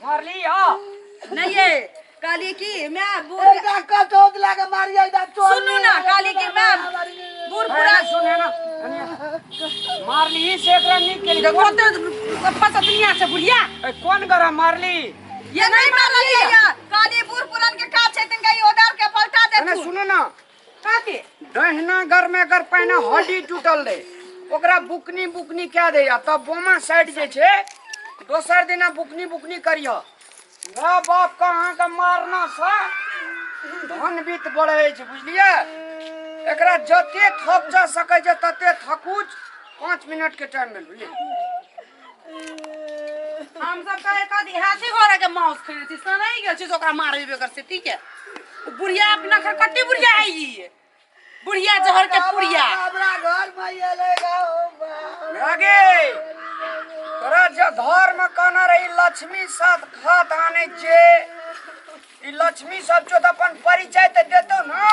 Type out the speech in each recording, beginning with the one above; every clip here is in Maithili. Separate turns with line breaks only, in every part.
मारली हो नहीं ये काली की मैं बूढ़ एकटा कटोत लए के मारियै एकटा चोर सुनू ना काली की मैं बूढ़ पूरा पूरा सुने ना मारली से एकरा नीक केली देखो तो पप्पा तो दुनिया से बुढ़िया ए, कोन गरा मारली ये नहीं मारली है यार काली बूढ़ पुरान के काट छै तिनका ई ओदार के पलटा दे अरे तू सुनो ना काके दहिना गर में गर पहिने हड्डी टूटल रहे ओकरा बुकनी बुकनी कए दैया तब बोमा साइड जे छै दोसर दिना बुकनी बुकनी करिह वएह बाप के अहाँके मारना से धन बीत बढ़ै छै बुझलियै एकरा जते थक जा सकै छै तते थकुच पाँच मिनटके टाइम भेल बुझलियै हम सब कहे कथी हाथी घोड़ा के मांस खेने छी सना ही गेल छी तो ओकरा मारबे बेकर से ठीक है उ बुढ़िया अपना घर कट्टी बुढ़िया है ई बुढ़िया जहर के पुड़िया हमरा घर में ये लेगा ओ बा लगे तोरा जे धर्म कहना रही लक्ष्मी साथ खात आने जे ई लक्ष्मी सब जो अपन परिचय ते देतो ना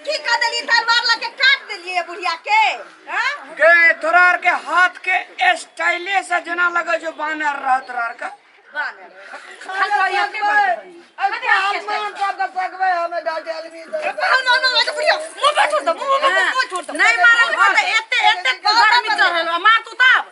की कर देली तलवार लग के काट देलिए बुढ़िया के हां गए तोरा आर के हाथ के स्टाइले से जना लगे जो बानर रहत रह का बानर नहीं मारल एते एते गर्मी चढ़ल मार तू तब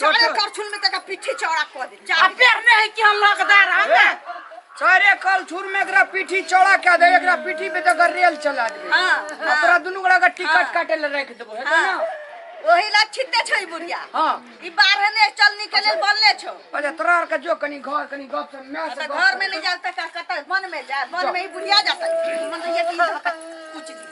चारे करछुल में तक पीठी चौड़ा कर दे चार पेड़ में है कि हम लकदार हम ना चारे करछुल में एकरा पीठी चौड़ा कर दे एकरा पीठी पे तक रेल चला दे हां अपरा दुनु गड़ा का टिकट हाँ। काटे ले रख देबो है ना हाँ। ओही ला छिते छै बुढ़िया हां ई बारह ने चल निकले अच्छा। बनले छो अच्छा तोरा के जो कनी घर कनी गप से मैं से घर में नहीं जाता का कत मन में जा मन में ही बुढ़िया जाता मन ये की कुछ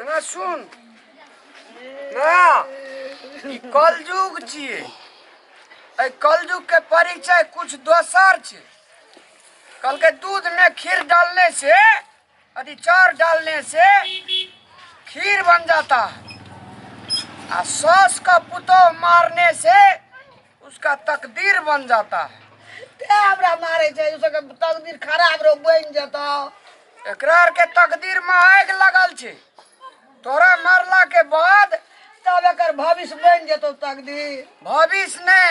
एना सुन ना ई कलयुग छियै एहि कलयुग के परिचय कुछ दोसर छै कहलकै दूध में खीर डालने से अथी चार डालने से खीर बन जाता है आ सौस का पुतोह मारने से उसका तकदीर बन जाता है ते हमरा मारे छै उसका तकदीर खराब रो बन जाता एकरा आर के तकदीर में आग लगल छै तोरा मरला के बाद तब एक भविष्य बन जतो तकदीर भविष्य ने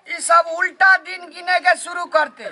ई सब उल्टा दिन गिने के शुरू करते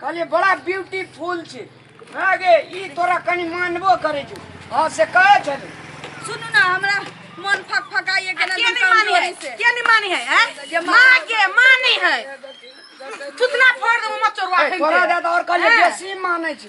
कहलिए बड़ा ब्यूटीफुल छै हाँ गे ई तोरा कनि मानबो करै छौ हाँ से कहै छल सुनू ना हमरा मन फक फकाइए के के नहीं मानी है के नहीं मानी है हैं? माँ के मानी है थुतना फोड़ दो मत चोरवा ए, फेंक तोरा दे। ज्यादा और कहलिए हैं? बेसी मानै छी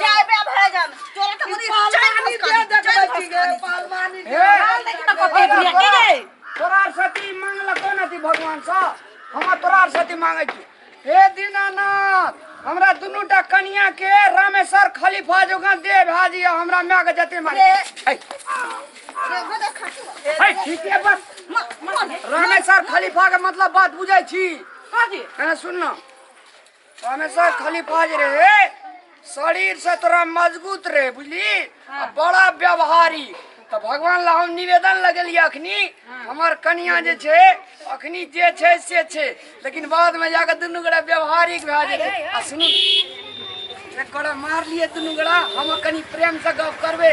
जाए बे भरे जान तोरा त मुनी चार मुस कर दे चार मुस कर पालमानी दे हाल देख त कते बुढ़िया के गई तोरा सती मांगला कोन अति भगवान सा हम तोरा सती मांगे छी हे दीनानाथ हमरा दुनू टा कनिया के रामेश्वर खलीफा जोगा दे भाजी हमरा माय के जते मारे है रे गोदा खाती है ठीक है बस म म रामेश्वर खलीफा के मतलब बात बुझै छी काजी अरे सुन ना हमेशा खाली फाज रहे शरीर से तोरा मजबूत रहे बुझली आ बड़ा व्यवहारी तो भगवान ला हम निवेदन लगेलिए अखनी हमर कनिया जे छै अखनी जे छै से छै लेकिन बाद में जाके दुनू गोरा व्यवहारिक भए जेतै आ सुनू एक गोरा मार लिए दुनू गोरा हम कनी प्रेम से गप करबै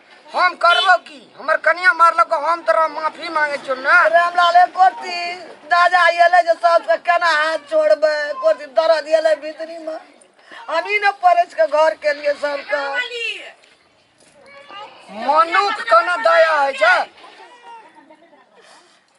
हम करबो की हमर कनिया मारलक हम तोरा माफी मांगे छियो ना रामलाल एक कोर्सी दादा एले जे सब के केना हाथ छोड़बे कोर्सी दर्द एले भीतरी में हम ही न परस के घर के लिए सब के मनुख कना दया है छै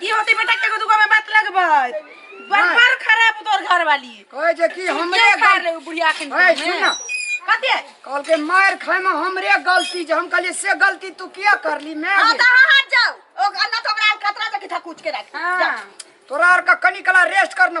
की होती बेटा के दुगो में बात लगबै बड़ खराब तोर घर वाली कहे जे कि हमरे खा ले बुढ़िया के ए सुन ना कते कल के मार खाए में हमरे गलती जे हम कहलिए से गलती तू किया करली मैं हां त हां जाओ ओ अन्ना तो हमरा खतरा जे कि था कुछ के रख हां तोरा आर का कनी कला रेस्ट करना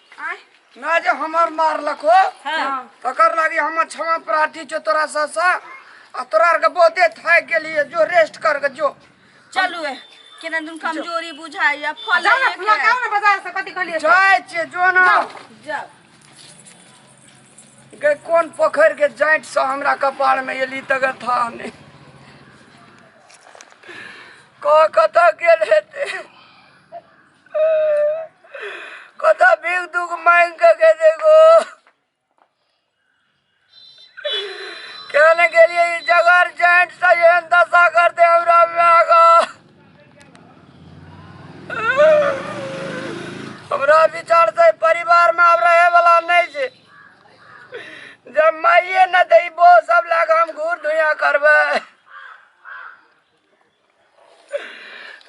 ना जे हमर मारलक हो तकर लागी हमर क्षमा प्रार्थी छो तोरा ससा आ तोरा आर के बहुते थाक गेलिए जो रेस्ट कर के जो चलू ए केना दुन कमजोरी बुझाइया फल जाओ ना एक फुला है। खाओ ना बाजार से कथी कहलिए जाय छे जो ना जाओ गए कोन पोखर के जांट से हमरा कपार में एली तगर था ने कह कत गेल हेते कता भीख दुख मांग के के देखो कहने के लिए ये जगर जैंट सा ये दशा कर दे हमरा में आगा हमरा विचार से परिवार में अब रहे वाला नहीं छे जब माइये न देबो सब लग हम घूर धुइया करबे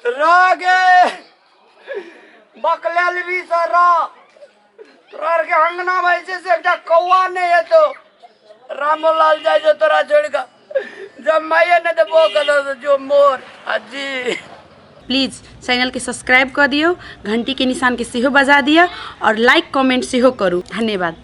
रागे बकला लेबी सारा तोरा आरके अंगना में जे से एकटा कौआ नहीं है तो रामोलाल जाए जो तोरा छोड़ के जब माये ने तो वो करो तो जो मोर अजी प्लीज चैनल के सब्सक्राइब कऽ दियौ घंटी के निशान के सेहो बजा दिअ और लाइक कमेंट सेहो करू धन्यवाद